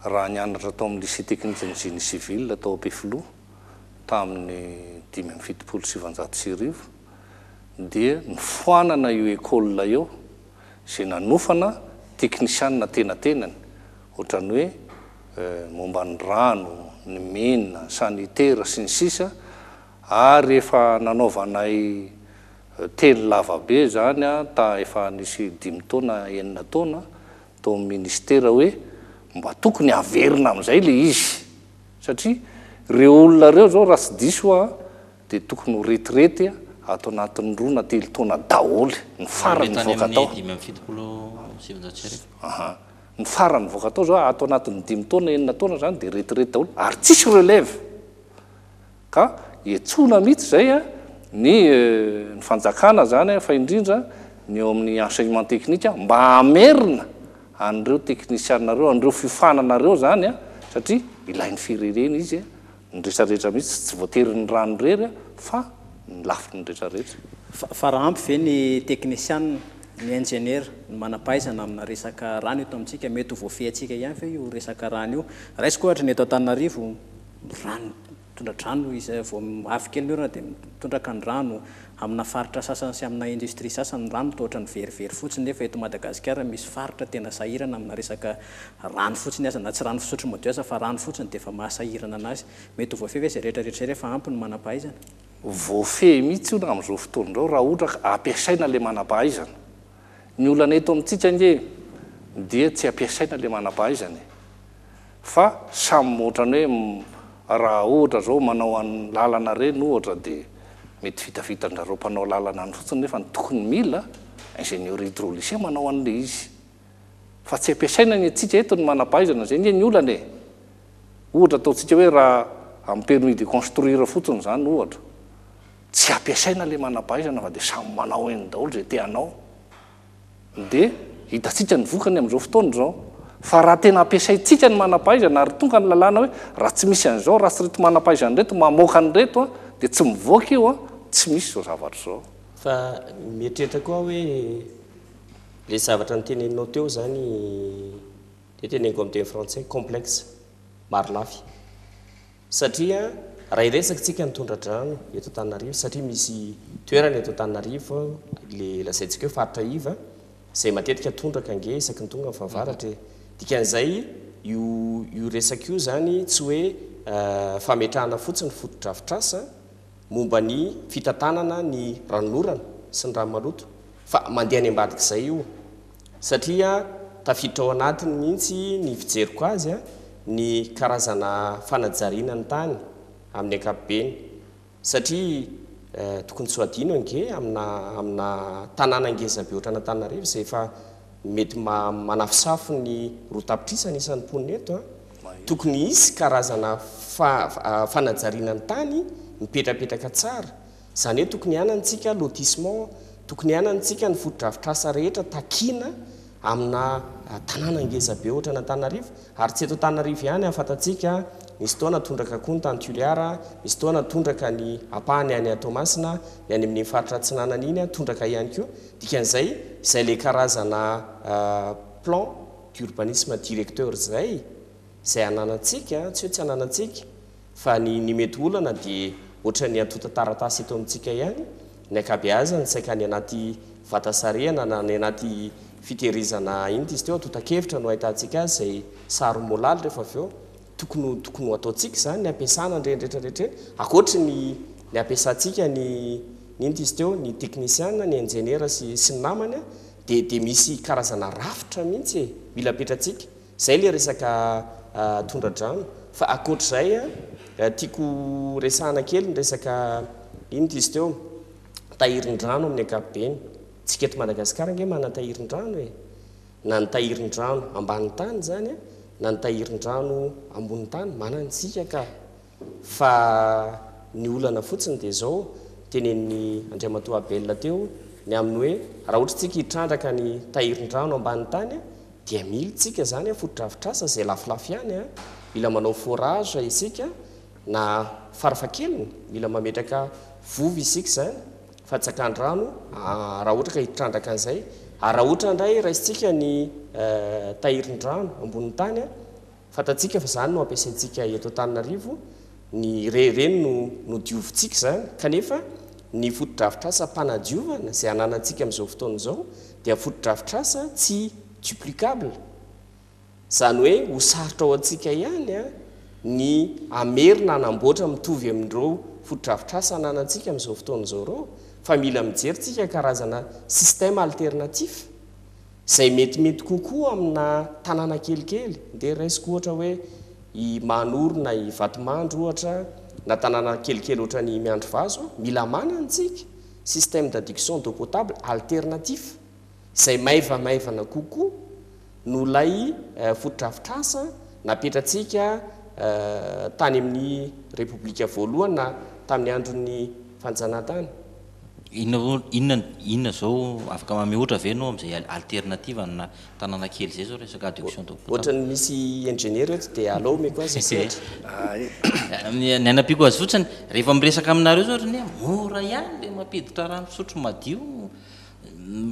raha nianatra tao amin'ny Lycée teknikan'ny Génie Civil tao Ampefiloha tamin'ny dimy amby fitopolo sy sivanjato sy arivo dia nifoanana io école io izay nanofana teknisianina tenatenany ohatran'ny hoe momba ny rano, ny mine, ny sanitaire sy ny sisa Ary efa nanaovanay teny lava be izany ta efa nisy dimy taona enina taona tao amin'ny ministera hoe mba tokony averina amin'izay ilay izy satria ireo olona ireo izao raha tsy diso aho dia tokony ho retraite ato anatin'ny roa na telo taona daholo ny farany nivoaka tao. Ny farany nivoaka tao izao ato anatin'ny dimy taona enina taona izany dia retraite daholo ary tsisy relève. Ka hiantsoana mihitsy izay ny ny fanjakana izany fa indrindra ny eo amin'ny enseignement technique mba hamerina an'ireo teknisianina ireo, an'ireo fiofanana ireo izany satria ilain'ny firenena izy ny rehetra rehetra mihitsy tsy voatery ny rano irery fa ny lafiny ny rehetra rehetra. Fa fa raha ampy ve ny teknisianina, ny injeniera, ny manam-pahaizana amina resaka rano eto amintsika? Mety ho voafehy antsika ihany ve io resaka rano io? Raisiko ohatra ny eto Antananarivo. rano, tondra-drano izay vao avy kely ny orana dia mitondraka ny rano, amina faritra sasany sy amina industrie sasany ny rano toa ohatran'ny verivery fotsiny nefa eto Madagasikara misy faritra tena sahirana amina resaka rano fotsiny aza na tsy rano fisotro madio aza fa rano fotsiny dia efa maha sahirana anazy. Mety ho voafehy ve izay rehetra rehetra izay rehefa ampy ny manam-pahaizana? Voafehy mihitsy hono amin'izao fotoana izao raha ohatra ka ampiasaina ilay manam-pahaizana Ny olana eto amintsika ange dia tsy ampiasaina ilay manampahaizana e! Fa samy ohatrany hoe raha ohatra zao manao an lalana reny ohatra dia mety vitavita anjareo mpanao lalana any fotsiny nefa ny tokony mila ingenieur hydraulicien manao anle izy fa tsy ampiasaina ny antsika eto ny manampahaizana zay nge ny olana e! Ohatra ataontsika hoe raha amin'ny permis de construire fotsiny zany ohatra Tsy ampiasaina le manampahaizana fa dia samy manao eny daholo izay te hanao. Dia hitantsika ny vokany amin'izao fotoana izao. Fa raha tena ampiasaintsika ny manampahaizana ary tonga ny lalàna hoe raha tsy misy an'izao, raha tsy ireto manampahaizana ireto mamoaka an'ireto dia tsy mivoaka io, tsy misy izao zavatra izao. Fa mieritreritra koa aho hoe ilay zavatra noteneninao teo izany dia teneniko amin'ny teny frantsay, complexe, marolafy. Satria raha hiresaka tsika ny tondradrano eto Antananarivo satria misy toerana eto Antananarivo le lazaintsika hoe faritra iva zay matetika tondraka ange isaky ny tonga ny fahavaratra e! Dikan'izay io io resaka io zany tsy hoe fametrahana fotsiny fotodrafitrasa momba ny fitantanana ny ranon'orana sy ny rano maloto fa mandeha any ambadik'izay io Satria tafiditra ao anatiny mihitsy ny fijeriko azy ny karazana fanajariana ny tany amin'ny ankapobeny. Satria tokony tsy ho adino ange amina amina tanàna ngeza be ohatran'Antananarivo izay efa mety manafosafo ny roa tapitrisa ny isan'ny mponina eto, tokony hisy karazana fa fanajariana ny tany mipetrapetraka tsara Izany hoe tokony hanany tsika lotissement, tokony hanany tsika ny fotodrafitrasa rehetra takiana amina tanàna ngeza be ohatrany Antananarivo, ary tsy eto Antananarivo ihany an, fantatsika nisy fotoana tondraka koa ny tany Toliara, nisy fotoana tondraka ny ampahany any Toamasina, ny any amin'iny faritra atsinanana iny an, tondraka ihany koa, dikan'izay izay ilay karazana plan d'urbanisme directeur izay, izay ananantsika an, tsy hoe tsy ananantsika, Fa ny ny mety olana dia ohatran'ny antontan-taratasy eto amintsika ihany, ny ankabeazany saika any anaty vata sarehana na any anaty fitehirizana inona izy teo, antontan-kevitra no ahitantsika azy izay saro-molaly rehefa avy eo. Tokony ho tokony ho ataontsika izany ny ampiasana an'ireny rehetra rehetra ireny, ankoatry ny ny ampiasantsika ny ny inona izy teo, ny teknisiana, ny injeniera sy sy ny namany dia dia misy karazana rafitra mihitsy e, mila apetratsika. Zay le resaka tondradrano, fa akoatr'izay tiako resahana kely ny resaka inona izy teo? tahirindrano amin'ny ankapobeny, tsika eto Madagasikara ange manan-tahirindrano e! na ny tahirindrano ambanin'ny tany zany na ny tahirindrano ambonin'ny tany manantsika ka! Fa ny olana fotsiny dia izao, tenenin'i Andriamatoa Abel teo, ny amin'ny hoe raha ohatra isika hitrandraka ny tahirin-drano ambany tany dia mila isika izany fotodrafitrasa izay lafolafo ihany, mila manao forage isika na farafahakeliny mila mametraka vovo isika izany, fatsakan-drano raha ohatra ka hitrandraka an'izay, ary raha ohatra indray raisintsika ny tahirin-drano ambonin'ny tany Fantatsika fa izany no ampiasaintsika eto Antananarivo, ny re ireny no nodiovintsika izany, kanefa ny fotodrafitrasa mpanadiovana izay ananantsika amin'izao fotoana izao dia fotodrafitrasa tsy duplicable, izany hoe ho sarotra ho antsika ihany ny hamerina hanamboatra mitovy amin'ireo fotodrafitrasa ananantsika amin'izao fotoana izao ireo, fa mila mijery tsika karazana système alternatif. Izay metimety kokoa amina tanàna kelikely dia raisiko ohatra hoe i Mahanoro na i Vatomandry ohatra na tanàna kelikely ohatran'i Miandrivazo, mila manana tsika système d'adduction d'eau potable alternatif izay maivamaivana kokoa noho ilay fotodrafitrasa napetratsika tany amin'ny Repoblika voalohany na tamin'ny andron'ny fanjanahantany. Inona vo inona inona zao afaka mameotra ve enao amzay alternative ana tanana kely izay zao resaka adduction de potable. Ohatran'ny misy ingenieur eto dia alou omeko azy sehatra. Ny anampiako azy fotsiny rehefa miresaka aminareo zao ohatran'ny hoe mora ihany le mampiditra rano fisotro madio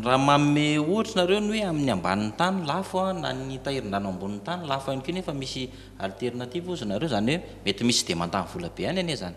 raha manome ohatra nareo ny hoe amin'ny ambanin'ny tany lafo na ny tahirin-drano ambonin'ny tany lafo ihany koa nefa misy alternative ozy nareo zany hoe mety misy tsy dia mandany vola be ihany anie zany.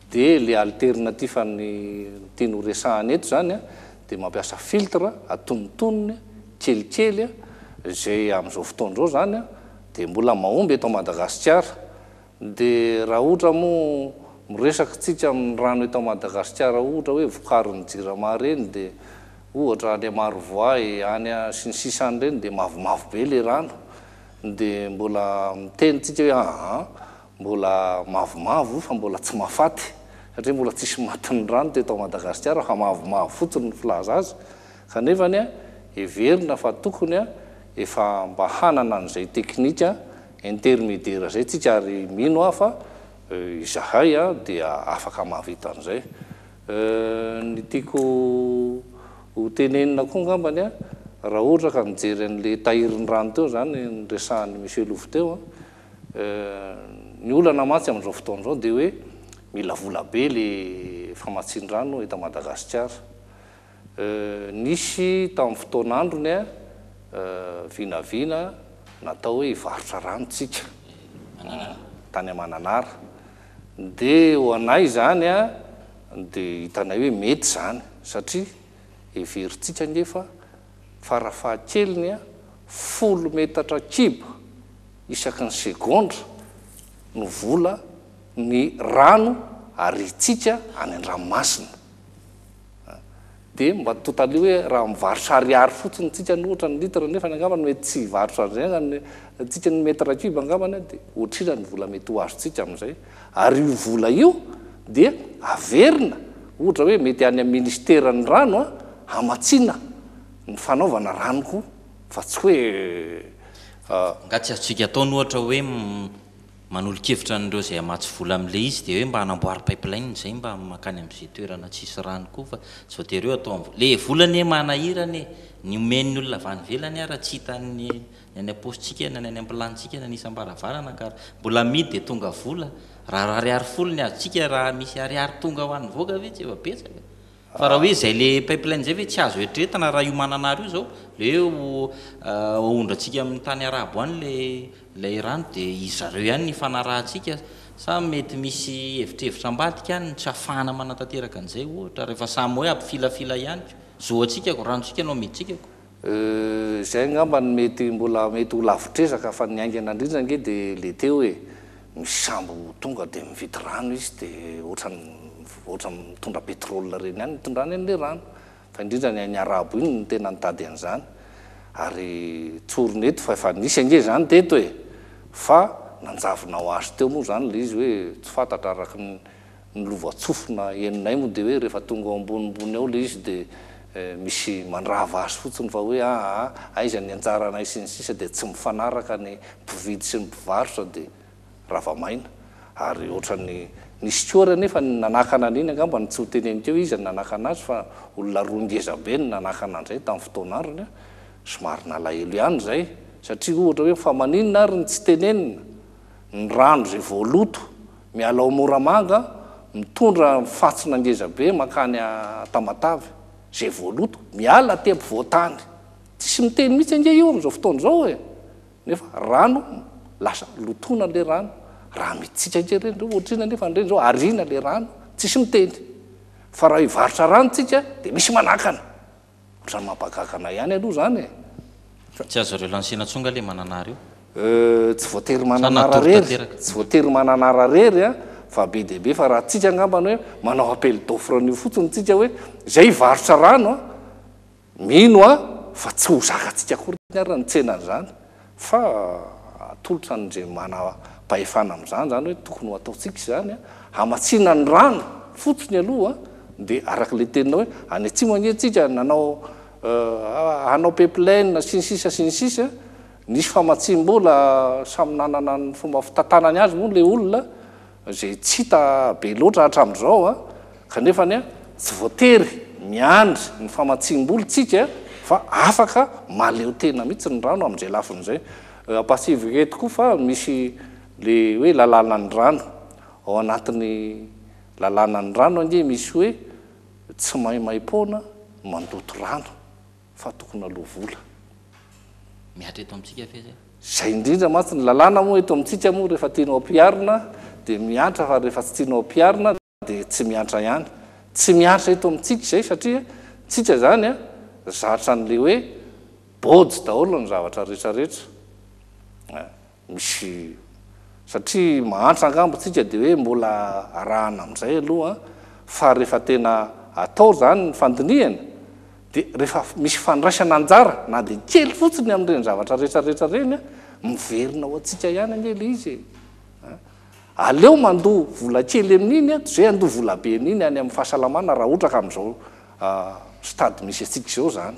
Dia le alternatif an'ny teny ho resahana eto zany a, dia mampiasa filtre atonontonony kelikely a, izay amin'izao fotoana izao zany a, dia mbola mahomby eto Madagasikara. Dia raha ohatra moa miresaka tsika amin'ny rano eto Madagasikara ohatra hoe vokarin'ny jirama ireny dia ohatra any Marovoay any a, sy ny sisa any ireny dia mavomavo be le rano, dia mbola miteny tsika hoe aa, mbola mavomavo io fa mbola tsy mahafaty satria mbola tsisy matin'ny rano teto Madagasikara fa mavomavo fotsiny ny filaza azy kanefany a heverina fa tokony a efa mba hanana an'izay teknika intermediera zay tsika ary mino aho fa izahay a dia afaka mahavita an'izay ny tiako ho tenenina koa ngambany a raha ohatra ka mijery an'le tahirin'ny rano teo zany ny resahan'i Monsieur Lova teo a Ny olana mantsy amin'izao fotoana izao dia hoe mila vola be le famatsian-drano eto Madagasikara. Nisy tamin'ny fotoan'androny vinavina natao hoe hivarotra rano tsika tany Mananara. Dia ho anay izany dia hitanay hoe mety izany satria heverintsika ange fa farafahakeliny folo metatra kibo isaky ny segondra no vola ny rano ariantsika any an-dranomasina. Dia mba totalio hoe raha mivarotra ariary fotsiny tsika ny ohatra ny litre nefany angambany mety tsy hivarotra an'izay angambany tsika ny metre kibo angambany dia otrira ny vola mety ho azontsika amin'izay Ary io vola io dia averina, ohatra hoe mety any amin'ny Ministeran'ny rano an, hamatsiana ny fanaovana rano koa fa tsy hoe. Angaha tsy azontsika atao ny ohatra hoe manolo-kevitra an'ireo izay hamatsy vola amin'ilay izy dia hoe mba hanamboary pipeline izay mba mankany amin'izay toerana tsisy rano koa fa tsy voatery hoe atao amin'ny vola. Ilay vola anie manahirana e! Ny omen'ny olona avy any ivelany ara tsy hitan'ny Ny any am-paosintsika na ny any am-pilantsika na ny isam-baravarana kara. Mbola amidy dia tonga vola. Raha ariary folo ny azontsika raha misy ariary tonga ho an'ny vaoaka ve tsy efa betsaka. Fa raha hoe izay ilay pipeline izay ve tsy azo eritreretina raha io mananara io izao ilay hoe aondrantsika amin'ny tany arabo any ilay ilay rano dia izy zareo ihany no ifanarahantsika sa mety misy hevitrevitra ambadika any no tsy ahafahana manatanteraka an'izay ohatra rehefa samy hoe ampifilafila ihany ko. Zo antsika ko, ranontsika no amidintsika ko. Euh, izay angamba no mety mbola mety ho lavitr'ezaka fa ny haingana indrindra ange dia le teo e, misy sambo tonga dia mividy rano izy dia ohatran'ny ohatran'ny mitondra pétrole ireny ihany ny itondrany an'ilay rano fa indrindra ny hain'ny arabo iny no tena nitady an'izany ary tsorina eto fa efa nisy ange izany teto e, fa nanjavona ho azy teo moa izany ilay izy hoe tsy fantatra araka ny Ny lovantsofina henonay moa dia hoe rehefa tonga ao ambonimbony ao ilay izy dia misy mandrava azy fotsiny fa hoe aa aiza ny anjaranay sy ny sisa dia tsy mifanaraka ny mpividy sy ny mpivarotra dia rava maina ary ohatran'ny nisy koa ary anefa ny nanakana an'iny angamba no tsy ho teneniko eo iza no nanakana azy fa olona roa ngeza be no nanakana an'izay tamin'ny fotoana androny an! somary nalahelo ihany izay satria ohatra hoe fa maninona ary no tsy tenenina ny rano izay voaloto Miala ao Moramanga, mitondra fantsona ngezabe mankany Tamatave. Izay voaloto, miala aty ampovoan-tany. Tsisy miteny mihitsy ange io amin'izao fotoana izao e! Nefa rano, lasa lotoina ilay rano. Raha mitsika ange ireny izao, ohatr'inona anefa an'ireny izao, ariana ilay rano, tsisy miteny. Fa raha hivarotra rano tsika dia misy manakana. Otrany mampagaga anay ihany aloha zany e! Tsy azo relancena tsony nga le mananara io. Euh tsy voatery mananara rery, tsy voatery mananara rery an, fa be dia be fa raha tsika angambany hoe manao appel d'offre an'io fotsiny tsika hoe zay hivarotra rano an, mino aho fa tsy ho zakatsika akory ary ny tsenan'izany. Fa atolotra an'Indray manam-pahefana amin'izany izany hoe tokony ho ataontsika izany an, hamatsiana ny rano fotsiny aloha dia araka ilay teninao hoe any atsimo ange tsika nanao hanao pipeline sy ny sisa sy ny sisa, nisy famatsiam-bola samy nanana ny fomba fitantanany azy moa ilay olona izay tsy hita be loatra hatramin'izao an, kanefany an, tsy voatery miandry ny famatsiam-bola isika fa afaka mahaleo tena mihitsy ny rano amin'izay lafiny izay. Ampahatsiahivo eto koa fa misy le hoe lalànan'ny rano, ao anatin'ny lalànan'ny rano ange misy hoe tsy maimaim-poana mandoto rano, fa tokony aloa vola. Mihatra eto amintsika fez a. Zay indrindra mantsy ny lalàna moa eto amintsika moa rehefa tianao ampiharina dia mihantra fa rehefa tsy tianao ampiharina dia tsy mihantra ihany. Tsy mihantra eto amintsika izay satria tsika zany a zatra an'le hoe bôjy daholo ny zavatra retraretra a. Misy satria mahantra angamba isika dia hoe mbola arahana amin'izay aloha fa rehefa tena atao izany ny fandinihana dia rehefa misy fandraisana anjara na dia kely fotsiny amin'ireny zavatra rehetrarehetra ireny miverina ho antsika ihany anie ilay izy e! Aleo mandoa vola kely amin'iny ato izay handoa vola be an'iny any amin'ny fahasalamana raha ohatra ka amin'izao stade misy antsika izao izany.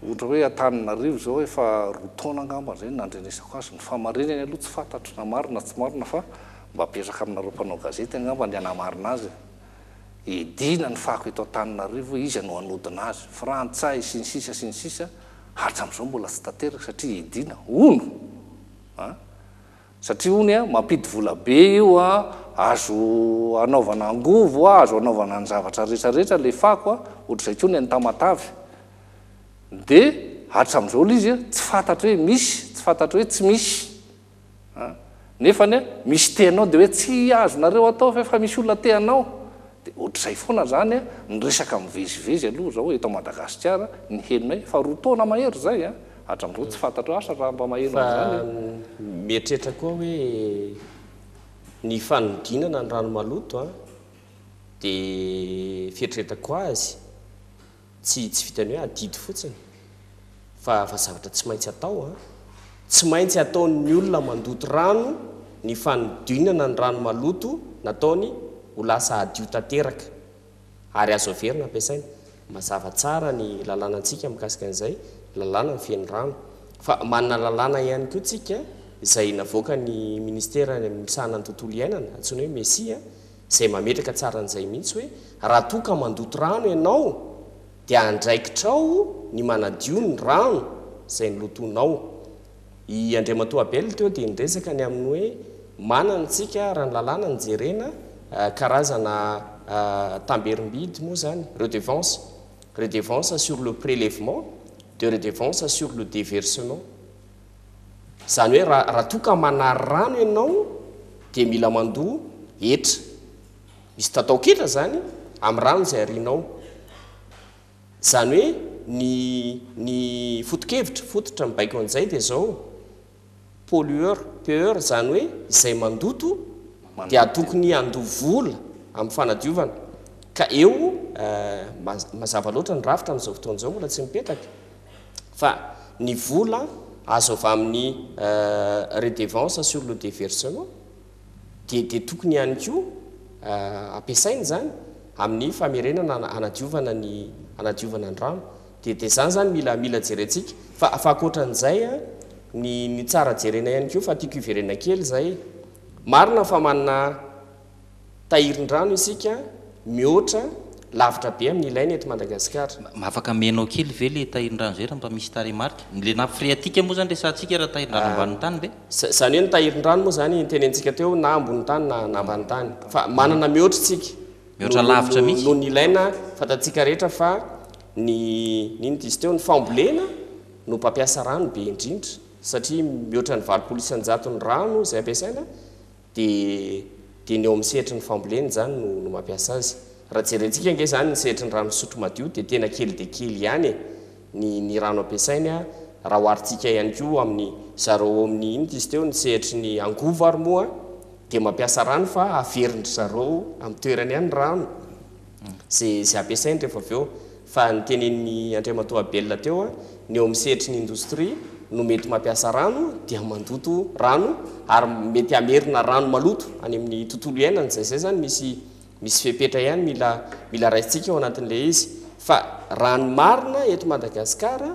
Ohatra hoe Antananarivo izao efa roa taona angamba izay no nandrenesako azy, ny fahamarinany aloha tsy fantatro na marina na tsy marina fa mba apetraka aminareo mpanao gazety angamba ny hanamarina azy e. Edina ny fako eto Antananarivo hoe iza no hanodina azy, frantsay sy ny sisa sy ny sisa, hatram'izao mbola tsy tanteraka satria edina, hono an! satria hono an, mampidi vola be io an, azo hanaovana angovo an, azo hanaovana ny zavatra rehetra rehetra ilay fako an, ohatr'izay koa ny an'i Tamatave. dia hatramin'izao le izy tsy fantatro hoe misy, tsy fantatro hoe tsy misy a! nefa anie misy te hanao dia hoe tsy azonareo atao ve fa misy olona te hanao, dia ohatr'izay foana izany a! ny resaka mivezivezy aloha izao eto Madagasikara ny henonay fa roa taona mahery izay a! hatramin'izao tsy fantatro asa raha mba maheno an'izany a! Mieritreritra koa hoe ny fanodinana ny rano maloto a! dia fieritreretako azy Tsy tsy vitan'ny hoe adidy fotsiny fa fa zavatra tsy maintsy atao an! Tsy maintsy ataon'ny olona mandoto rano ny fanodinana ny rano maloto nataony ho lasa hadio tanteraka ary azo averina ampiasaina. Mazava tsara ny lalànantsika mikasika an'izay, lalàna mifehy ny rano. Fa manana lalàna ihany koa tsika izay navoakan'ny Ministera misahana ny tontolo iainana, antsoina hoe MESI an! Izay mametraka tsara an'izay mihitsy hoe raha toa ka mandoto rano ianao dia andraikitrao ny manadio ny rano izay nolotoinao. I Andriamatoa Abel teo dia niresaka ny amin'ny hoe manana isika raha ny lalàna no jerena karazana tamberim-bidy moa izany, redevance, redevance sur le prélèvement, de redevance sur le déversement. Izany hoe raha raha toa ka manary rano ianao dia mila mandoa hetra. Misy tataon-ketra izany amin'ny rano izay arianao. Izany hoe ny ny foto-kevitra, fototra mibaiko an'izay dia izao, pollueur, peur, izany hoe izay mandoto dia tokony handoa vola amin'ny fanadiovana. Ka eo, eh, mazava loatra ny rafitra amin'izao fotoana izao mbola tsy mipetaka. fa ny vola azo avy amin'ny redevance sur le deversement dia dia tokony ihany koa ampiasaina izany amin'ny famerenana hanadiovana ny hanadiovana ny rano dia dia izany izany mila mila jerentsika fa fa ankoatran'izay a ny ny tsara jerena ihany koa fa tiako hiverenana kely izay marina fa manana Tahirin-drano isika mihoatra lavitra be amin'ny ilaina eto Madagasikara. Afaka amenao kely ve le tahirin-drano zay raha mba misy tarehimarika? Ny le nappe phréatique moa zany resahantsika raha tahirin-drano ambanin'ny tany ve? Zany hoe ny tahirin-drano moa zany nitenenintsika teo na ambonin'ny tany na na ambanin'ny tany. Fa manana mihoatra isika. Mihoatra lavitra mihitsy. Noho ny ilaina fantatsika rehetra fa ny inona izy teo? Ny fambolena no mpampiasa rano be indrindra satria mihoatra ny valopolo isan-jaton'ny rano izay ampiasaina. Dia dia ny eo amin'ny sehatry ny fambolena izany no no mampiasa azy. Raha jerentsika ange izany ny sehatry ny rano fisotro madio dia tena kely dia kely ihany e, ny ny rano ampiasainy a, raha oharintsika ihany koa amin'ny zareo ao amin'ny inona izy teo ny sehatry ny angovo ary moa dia mampiasa rano fa averin-dry zareo amin'ny toerany ihany ny rano. ze ze ampiasainy rehefa avy eo fa ny tenenin'i Andriamatoa Abel teo ny eo amin'ny sehatry ny indostria no mety mampiasa rano dia mandoto rano ary mety hamerina rano maloto any amin'ny tontolo iainana izay zay zany misy misy fepetra ihany mila mila raisintsika ao anatin'ilay izy fa raha ny marina eto Madagasikara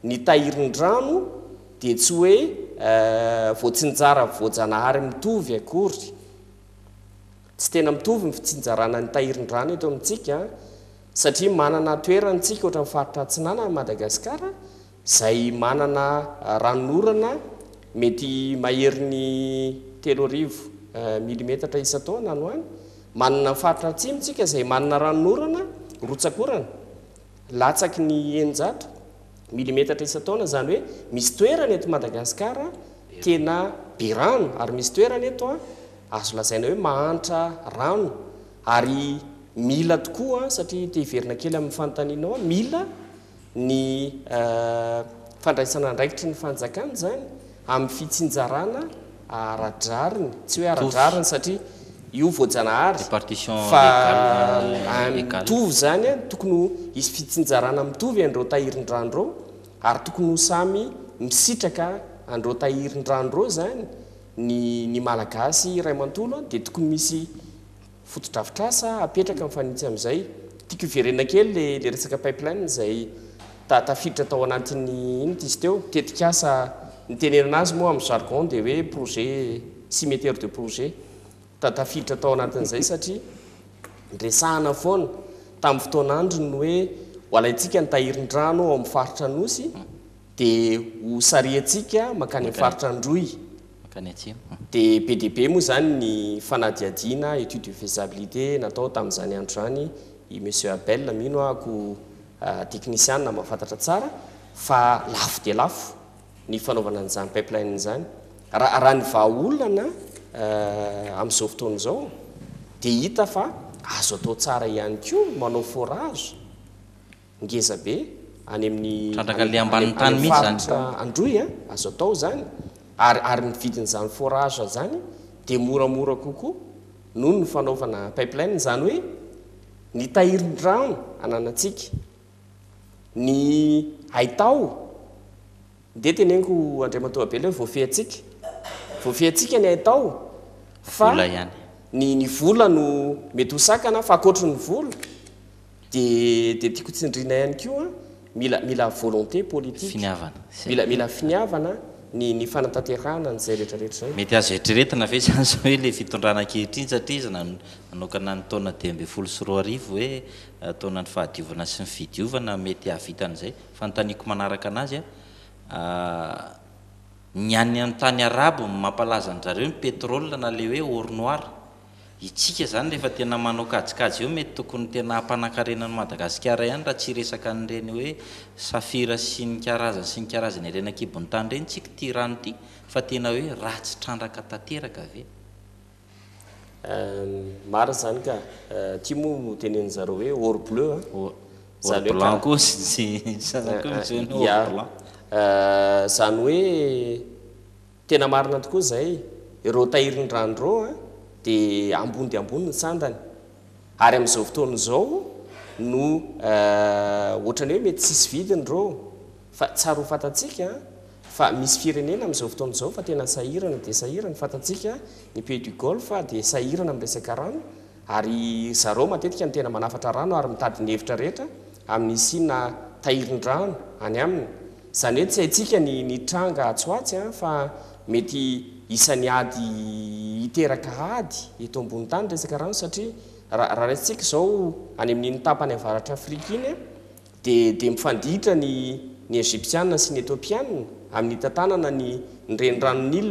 ny tahirin-drano dia tsy hoe voatsinjara voajanahary mitovy akory Tsy tena mitovy ny fitsinjarana ny tahirin-drano eto amintsika satria manana toerana tsika ohatra ny faritra atsinanana Madagasikara izay manana ranonorana mety maherin'ny telo arivo milimetatra isan-taona any ho any, manana ny faritra atsimo tsika izay manana ranonorana rotsakorana latsaky ny eninjato. Milimetatra isan-taona, izany hoe misy toerana eto Madagasikara tena be rano ary misy toerana eto azo lazaina hoe mahantra rano ary mila tokoa satria te hiverina kely amin'ny fanontanianao aho, mila ny fandraisana andraikitry ny fanjakana izany Amin'ny fitsinjarana ara-drariny, tsy hoe ara-drariny satria io voajanahary fa mitovy izany, tokony ho hisy fitsinjarana mitovy an'ireo tahirin-drano ireo ary tokony ho samy misitraka an'ireo tahirin-drano ireo izany ny Malagasy iray manontolo dia tokony misy fotodrafitrasa apetraka mifanitsy amin'izay. Tiako hiverena kely le le resaka pipeline izay ta tafiditra tao anatin'ny iny ity izy teo, tetikasa nitenenana azy moa amin'ny jargon dia hoe projet cimeter de projet. Ta tafiditra tao anatin'izay satria niresahana foana tamin'ny fotoan'androny ny hoe ho alaintsika ny tahirin-drano ao amin'ny faritra Anosy, Dia ho sariantsika mankany amin'ny faritra Androy. Mankany atsimo. Dia be dia be moa izany ny fanadihadiana, étude de faisabilité, natao tamin'izany andro izany. I Monsieur Abel, mino aho ko teknisiana mahafantatra tsara fa lafo dia lafo ny fanaovana an'izany pipeline izany. Raha raha ny vahaolana amin'izao fotoana izao dia hita fa azo atao tsara ihany koa ny manao forage. ngeza be any amin'ny Trandraka le ambanin'ny tany any mihintsy zany. faritra Androy a, azo atao izany ary ary ny vidin'izany forage izany dia moramora kokoa noho ny fanaovana pipeline izany hoe ny tahirin-drano ananantsika, ny haitao dia teneniko Andriamatoa Abela hoe voafehintsika, voafehintsika ny haitao fa Vola ihany. ny ny vola no mety ho sakana fa ankoatry ny vola Dia dia tiako tsindriana ihany koa mila mila volonté politique, Finiavana. mila mila finiavana ny ny fanatanterahana an'izay rehetrarehetra izay. Mety azo eritreretina ve izany izao hoe ilay fitondrana ankehitriny satria izy nan nanokana ny taona dimy ambin'ny folo sy roa arivo hoe taonan'ny fahadiovana sy ny fidiovana mety hahavita an'izay? Fanontaniako manaraka an'azy an, ny any an tany arabo mampalaza an-dry zareo ny pétrole na ilay hoe or noir, Itsika zany rehefa tena manao kajikajy eo mety tokony tena hampanankarena an'i Madagasikara ihany raha tsy hiresaka an'ireny hoe safira sy ny karazany sy ny karazany ireny ankibon'ny tany ireny tsika ity rano ity fa tena hoe ratsy trandraka tanteraka ve? Marina zany ka! Ty moa no tenenin'zareo hoe or bleu an! Or blanc koa ny sasany koa misy hoe or blanc. Zany hoe Tena marina tokoa izay, ireo tahirin'ny rano ireo dia ambony dia ambony ny sandany, ary amin'izao fotoana izao no ohatran'ny hoe mety tsisy vidiny ireo, fa tsara ho fantatsika fa misy firenena amin'izao fotoana izao fa tena sahirana dia sahirana, fantatsika ny pays du golfe dia sahirana amin'ny resaka rano, ary zareo matetika no tena manafatra rano ary mitady ny hevitra rehetra, amin'ny hisiana tahirin-drano any aminy. Izany hoe tsy haintsika ny ny tranga atsy ho atsy an, fa mety isan'ny ady hiteraka ady eto ambony tany ny resaka rano satria raha raha raisintsika izao any amin'iny tapany avaratra Afrika iny an, dia dia mifanditra ny ny Egyptiana sy ny Ethiopiana amin'ny hitantanana ny ny renirano Nil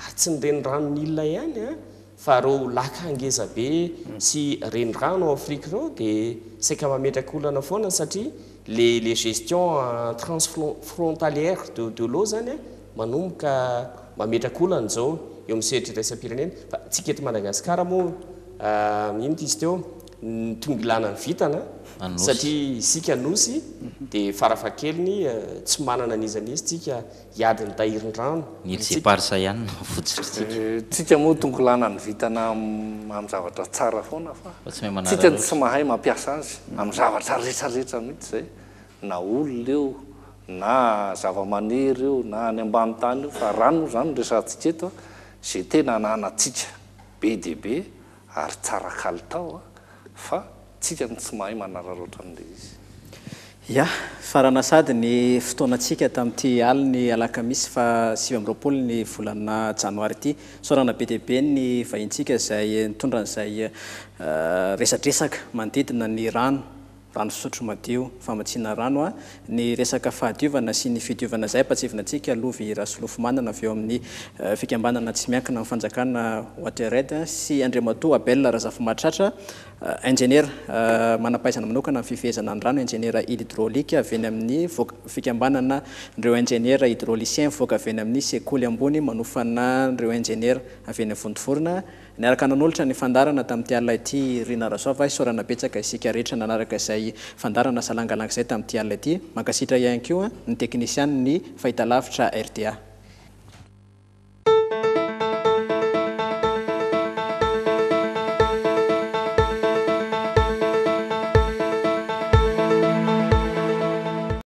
ary tsy ny renirano Nil ihany an, Fa ireo laka ngeza be sy renirano ao Afrique ireo dia saika mametraka olana foana satria le le gestion transfrontalière de de l'eau zany manomboka mametraka olana izao eo amin'ny sehatra iraisam-pirenena fa tsika eto Madagasikara moa ino ty izy teo ny tonga ilana ny vintana satria isika nosy dia farafahakeliny tsy manana n'iza n'iza tsika Hiady ny tahirin-drano. Ny Jeparsa ihany no votsitrintsika. Tsika moa tonkolana ny vitana amin'ny zavatra tsara foana fa tsika no tsy mahay mampiasa azy amin'ny zavatra rehetra rehetra mihitsy zay na olona io na zavamaniry io na any ambany tany io fa rano moa zany no resahantsika eto a ze tena ananatsika be dia be Ary tsara kalitao a! Fa tsika no tsy mahay manararaotra an'ilay izy. Ya! Farana sady ny fotoanantsika tamin'ity alin'ny alakamisy faha sivy amby roapolo ny volana janoary ity. Isaorana be dia be ny vahintsika izay nitondra an'izay resadresaka manodidina ny rano. rano fisotro madio, famatsiana rano a, ny resaka fahadiovana sy ny fidiovana izay ampatsivinantsika lovy Rasolofomanana avy eo amin'ny fikambanana tsy miankina amin'ny fanjakana Wateraid sy Andriamatoa Abel Razafimahatratra injeniera manampahaizana manokana amin'ny fifehezana ny rano injeniera hydrolique avy eny amin'ny fikambanana ireo injeniera hydroliciens mivoaka avy eny amin'ny sekoly ambony manofanan'ireo injeniera avy eny Vontovorona Niaraka nanolotra ny fandaharana tamin'ity alina ity i Rina Rasoava, isaorana betsaka isika rehetra nanaraka izay fandaharana salangalanga izay tamin'ity alina ity. Mankasitra ihany koa ny teknisianin'ny fahitalavitra rta.